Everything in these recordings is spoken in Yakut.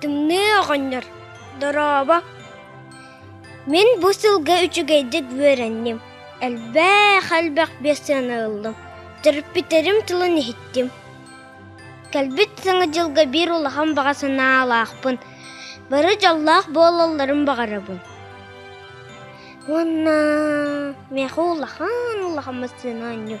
Тымныы оҕонньор, дорообо! Мин бу сылга үчүгэйдик үөрэнним. Элбэх, элбэх биэс сыана ыллым. Төрүппүттэрим тылын иһиттим. Кэлбит Саҥа дьылга биир улахан баҕа санаалаахпын. Бары дьоллоох буолалларын баҕарабын. Уонна миэхэ улахан улахан массыына оонньуу.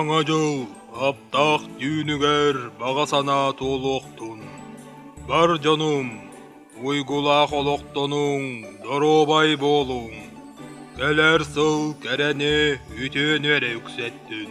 Саҥа дьыл аптаах түүнүгэр баҕа санаа туолуохтун. Бар дьонум, уйгулаах олохтонуҥ, доруобай буолуҥ. Кэлэр сыл кэрэни, үтүөнү эрэ үксэттин.